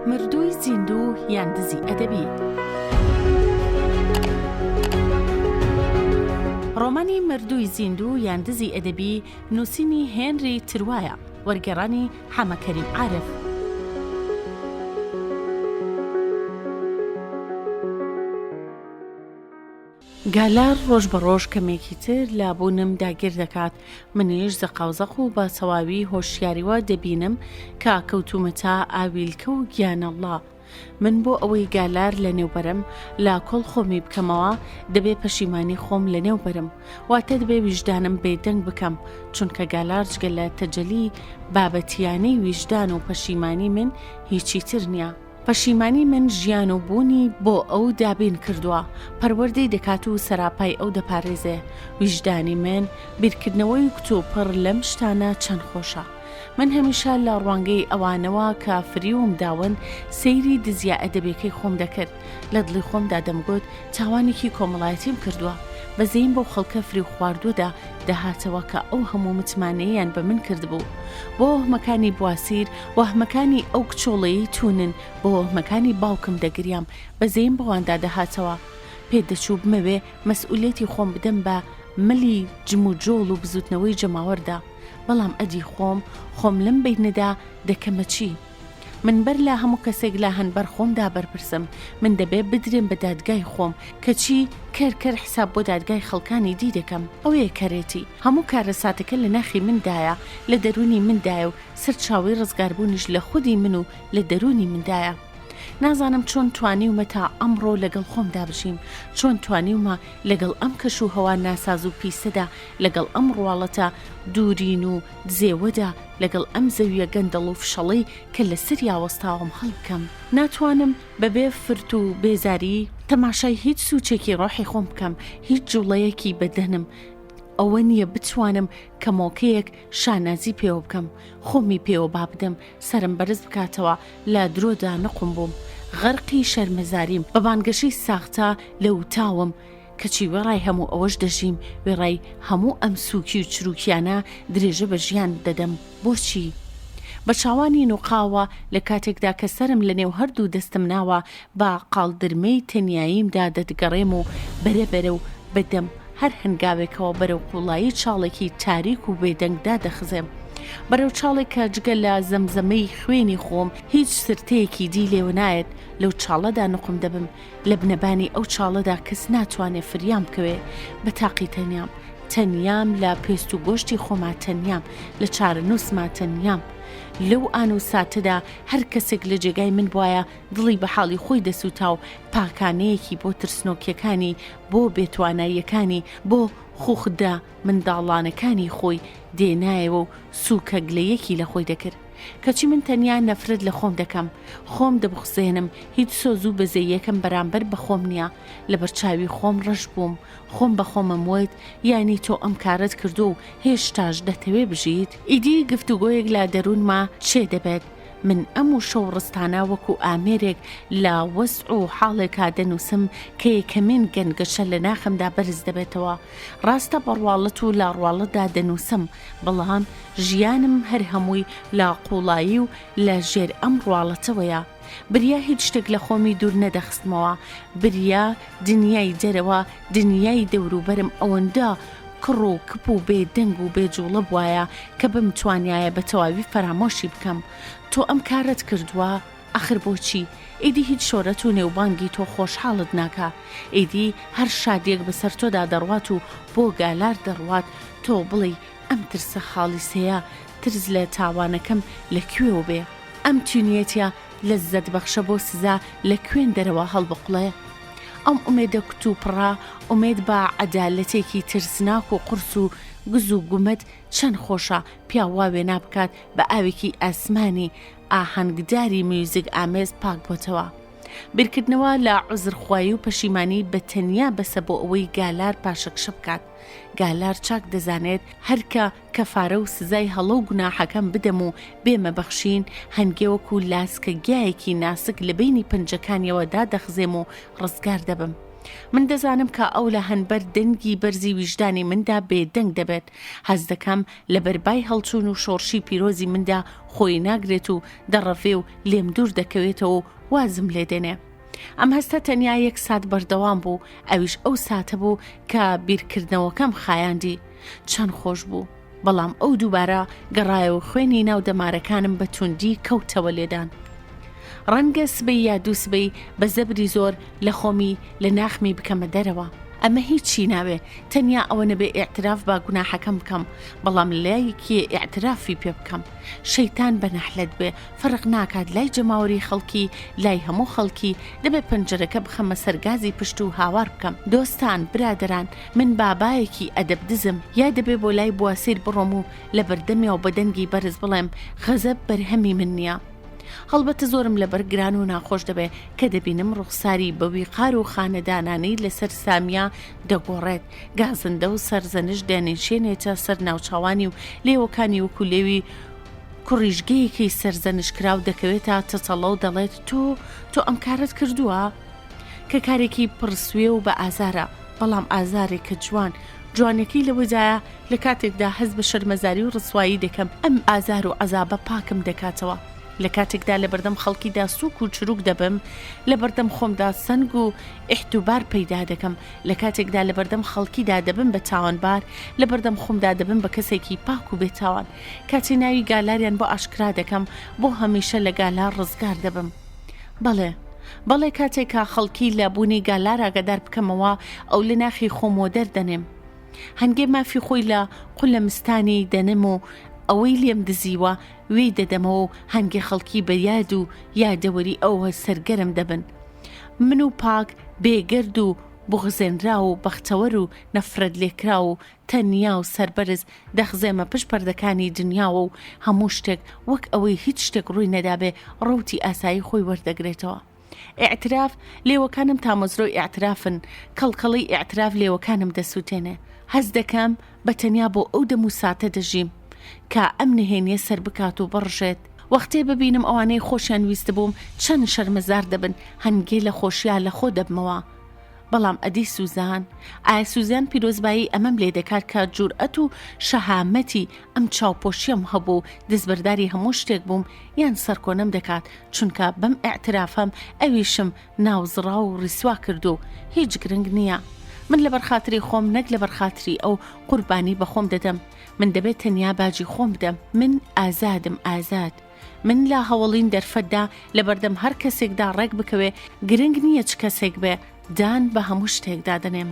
مردووی زیندوو یان دزی ئەدەبی ڕۆمانی مردووی زیندوو یان دزی ئەدەبی نووسینی هێنری تروایە وەرگێڕانی حەمەکەریم عارف گالار ڕۆژ بە ڕۆژ کەمێکی تر لە بوونم داگیر دەکات، منیش زەقاوزەق و بە تەواوی هۆشیاریوە دەبینم کە کەوتوومەتە ئاویلکە و گیانەڵڵا. من بۆ ئەوەی گالار لەنێو بەرم، لە کۆڵ خۆمی بکەمەوە، دەبێ پەشیمانی خۆم لەنێو بەرم، واتە دەبێ ویژدانم بێدەنگ بکەم، چونکە گالار جگە لە تەجەلی بابەتییانەی ویژدان و پەشیمانی من هیچی تر نییە. پەشیمانی من ژیان و بوونی بۆ ئەو دابین کردووە، پەروەردەی دەکات و سەراپای ئەو دەپارێزێ. ویژدانی من بیرکردنەوەی کوتوپڕ لەم شتانە چەند خۆشە. من هەمیشە لە ڕوانگەی ئەوانەوە کە فریوم داون سەیری دزییە ئەدەبیەکەی خۆم دەکرد، لە دڵی خۆمدا دەمگوت تاوانێکی کۆمەڵایەتیم کردووە، بەزەییم بەو خەڵکە فریوخواردووەدا دەهاتەوە کە ئەو هەموو متمانەیەیان بە من کردبوو. بۆ وەهمەکانی بواسیر، وەهمەکانی ئەو کچۆڵەی توونن بە وەهمەکانی باوکم دەگریام بەزەیم بەواندا دەهاتەوە پێت دەچوو بمەوێ مەسئولیەتی خۆم بدەم بە ملی جم و جۆڵ و بزوتنەوەی جەماوەردا بەڵام ئەدی خۆم خۆم لەم بەینەدا دەکەمە چی من بەر لە هەموو کەسێک لە هەن بەر خۆمدا بەرپرسم من دەبێ بدرێم بە دادگای خۆم کەچی کەر کەر حساب بۆ دادگای خەڵکانی دی دەکەم ئەوەیە کەرێتی هەموو کارە ساتەکە لە ناخی مندایە لە دەروونی مندایە و سەرچاوەی ڕزگاربوونیش لە خودی من و لە دەروونی مندایە. نازانم چۆن توانیومە تا ئەمڕۆ لەگەڵ خۆمدا بژیم، چۆن توانیومە لەگەڵ ئەم کەش و هەوا ناساز و پیسەدا، لەگەڵ ئەم ڕواڵەتە دوورین و دزێوەدا، لەگەڵ ئەم زەوییە گەندەڵ و فشەڵەی کە لەسەریا وەستاوم هەڵبکەم. ناتوانم بەبێ فرت و بێزاری تەماشای هیچ سووچێکی ڕۆحی خۆم بکەم، هیچ جووڵەیەکی بەدەنم ئەوە نییە بتوانم کەمۆکەیەک، شانازی پێوە بکەم خۆمی پێوە با بدەم سرم بەرز بکاتەوە لە درۆدا نقم بووم غەرقی شەرمەزاریم بە بانگەشەی ساختە لە وتاوم کەچی وێڕای هەموو ئەوەش دەژیم وێڕای هەموو ئەم سووکی و چروکیانە درێژە بە ژیان دەدەم بۆچی؟ بە چاوانی نوقاوە لە کاتێکدا کە سرم لە نێو هەردوو دەستم ناوە بە قاڵدرمەی تەنیاییمدا دەتگەڕێم و بەرەبەرە و بە دەم هەر هەنگاوێکەوە بەرەو قوڵایی چاڵێکی تاریک و بێدەنگدا دەخزێم. بەرەو چاڵێک کە جگە لە زەمزەمەی خوێنی خۆم هیچ سرتەیەکی دی لێوە نایەت، لەو چاڵەدا نوقم دەبم، لە بنەبانی ئەو چاڵەدا کەس ناتوانێ فریام بکەوێ. بە تاقی تەنیام. تەنیام لە پێست و گۆشتی خۆما تەنیام، لە چارەنووسما تەنیام. لەو ئان و ساتەدا هەر کەسێک لە جێگای من بوایە، دڵی بە حاڵی خۆی دەسووتا و پاکانەیەکی بۆ ترسنۆکیەکانی، بۆ بێتواناییەکانی، بۆ خوخدە منداڵانەکانی خۆی دێنایەوە و سووکە گلەیەکی لە خۆی دەکرد. کەچی من تەنیا نەفرەت لە خۆم دەکەم. خۆم دەبوخزێنم، هیچ سۆز و بەزەیەکم بەرامبەر بە خۆم نییە. لە بەرچاوی خۆم ڕەش بووم. خۆم بە خۆمم وت، یانی تۆ ئەم کارەت کردووە و هێشتاش دەتەوێ بژیت؟ ئیدی گفتوگۆیەک لە دەروونما چێ دەبێت. من ئەم وشە و ڕستانە وەکو ئامێرێک لە وەزع و حاڵێکا دەنووسم کە یەکەمین گەنگەشە لە ناخمدا بەرز دەبێتەوە. ڕاستە بە ڕواڵەت و لا ڕواڵەتدا دەنووسم، بەڵام ژیانم هەر هەمووی لە قووڵایی و لە ژێر ئەم ڕواڵەتەوەیە. بریا هیچ شتێک لە خۆمی دوور نەدەخستمەوە، بریا دنیای دەرەوە، دنیای دەوروبەرم ئەوەندە کڕ و کپ و بێ دەنگ و بێ جوڵە بوایە کە بمتوانیایە بە تەواوی فەرامۆشی بکەم. تۆ ئەم کارەت کردووە؟ ئاخر بۆچی؟ ئیدی هیچ شۆرەت و نێوبانگی تۆ خۆشحاڵت ناکا. ئیدی هەر شادییەک بەسەر تۆدا دەڕوات و بۆ گالار دەڕوات، تۆ بڵێی ئەم ترسە خاڵیسەیە، ترس لە تاوانەکەم لە کوێوە بێ؟ ئەم تینوێتییە لەززەت بەخشە بۆ سزا لە کوێن دەرەوە هەڵبقڵێ. ئەم ئومێدە کوتوپڕە ئومێد بە عەدالەتێکی ترسناک و قورس و گز و گومەت چەن خۆشە پیاو وا وێنا بکات بە ئاوێکی ئاسمانی ئاهەنگداری میوزیک ئامێز پاک بۆتەوە. بیرکردنەوە لە عوزرخوایی و پەشیمانی بە تەنیا بەسە بۆ ئەوەی گالار پاشەکشە بکات. گالار چاک دەزانێت هەر کە کەفارە و سزای هەڵە و گوناحەکەم بدەم و بێمە بەخشین، هەنگێ وەکوو لاسکە گیایەکی ناسک لە بەینی پەنجەکانیەوە دادەخزێم و ڕزگار دەبم. من دەزانم کە ئەو لە هەنبەر دەنگی بەرزی ویژدانی مندا بێ دەنگ دەبێت. هەست دەکەم لە بەر بای هەڵچوون و شۆڕشی پیرۆزی مندا خۆی ناگرێت و دەڕەڤێ و لێم دوور دەکەوێتەوە و وازم لێ دێنێ. ئەم هەستە تەنیا یەک سات بەردەوام بوو ئەویش ئەو ساتە بوو کە بیرکردنەوەکەم خایاندی چەند خۆش بوو بەڵام ئەو دووبارە گەڕایەوە خوێنی ناو دەمارەکانم بە توندی کەوتەوە لێدان. ڕەنگە سبەی یا دوو سبەی بە زەبری زۆر لە خۆمی لە ناخمی بکەمە دەرەوە. ئەمە هیچی ناوێ تەنیا ئەوە نەبێ ئاعتراف با گوناحەکەم بکەم بەڵام لایەکی ئاعترافی پێ بکەم شەیتان بە نەحلەت بێ فەرق ناکات لای جەماوەری خەڵکی لای هەموو خەڵکی دەبێ پەنجەرەکە بخەمە سەر گازی پشت و هاوار بکەم دۆستان برادەران من بابایەکی ئەدەب دزم یا دەبێ بۆ لای بواسیر بڕۆم و لە بەردەمیا و بە دەنگی بەرز بڵێم غەزەب بەرهەمی من نییە هەڵبەتە زۆرم لەبەر گران و ناخۆش دەبێ کە دەبینم ڕوخساری بە ویقار و خانەدانانی لەسەر سامیا دەگۆڕێت گازندە و سەرزەنش دەنیشێنێتە سەر ناوچاوانی و لێوەکانی وەکو لێوی کوڕیژگەیەکی سەرزەنشتکراو دەکەوێتە تەتەڵە و دەڵێت تۆ تۆ ئەم کارەت کردووە؟ کە کارێکی پڕ سوێ و بە ئازارە بەڵام ئازارێک کە جوان جوانەکەی لەوەدایە لە کاتێکدا هەست بە شەرمەزاری و ڕسوایی دەکەم ئەم ئازار و عەزابە پاکم دەکاتەوە لە کاتێکدا لە بەردەم خەڵکیدا سوک و چروک دەبم لە بەردەم خۆمدا سنگ و ئحتوبار پەیدا دەکەم لە کاتێکدا لە بەردەم خەڵکیدا دەبم بە تاوانبار لە بەردەم خۆمدا دەبم بە کەسێکی پاک و بێتاوان کاتێ ناوی گالاریان بۆ ئاشکرا دەکەم بۆ هەمیشە لە گالار ڕزگار دەبم بەڵێ بەڵێ کاتێکا خەڵکی لە بوونی گالار ئاگادار بکەمەوە ئەو لە ناخی خۆمەوە دەردەنێم هەنگێ مافی خۆی لە قولە مستانی دەنم و ئەوەی لێم دزیوە وێی دەدەمەوە و هەنگێ خەڵکی بە یاد و یادەوەری ئەوە سەرگەرم دەبن من و پاک بێگرد و بغزێنرا و بەختەوەر و نەفرەت لێکرا و تەنیا و سەربەرز دەخزێمە پشت پەردەکانی دنیاوە و هەموو شتێک وەک ئەوەی هیچ شتێک ڕووی نەدابێ ڕەوتی ئاسایی خۆی وەردەگرێتەوە. ئیعتراف، لێوەکانم تامەزرۆی ئیعترافن، کەڵکەڵەی ئیعتراف لێوەکانم دەسووتێنێ. هەست دەکەم بە تەنیا بۆ ئەو دەم و ساتە دەژیم کە ئەم نهێنییە سەربکات و بڕژێت. وەختێ ببینم ئەوانەی خۆشیان ویستبووم چەند شەرمەزار دەبن، هەنگێ لە خۆشیا لەخۆ دەبمەوە. بەڵام ئەدی سوزان؟ ئایا سوزان پیرۆزبایی ئەمەم لێ دەکات کە جورئەت و شەهامەتی ئەم چاوپۆشیەم هەبوو و دەستبەرداری هەموو شتێک بووم یان سەرکۆنەم دەکات چونکە بەم ئەعترافەم ئەویشم ناوزڕا و ڕیسوا کرد و هیچ گرنگ نییە. من لە بەرخاتری خۆم نەک لە بەرخاتری ئەو قوربانی بەخۆم دەدەم من دەبێت تەنیا باجی خۆم بدەم من ئازادم ئازاد. من لە هەوەڵین دەرفەتدا لە بەردەم هەر کەسێکدا ڕێک بکەوێ گرنگ نییە چ کەسێک بێ دان بە هەموو شتێکدا دەنێم.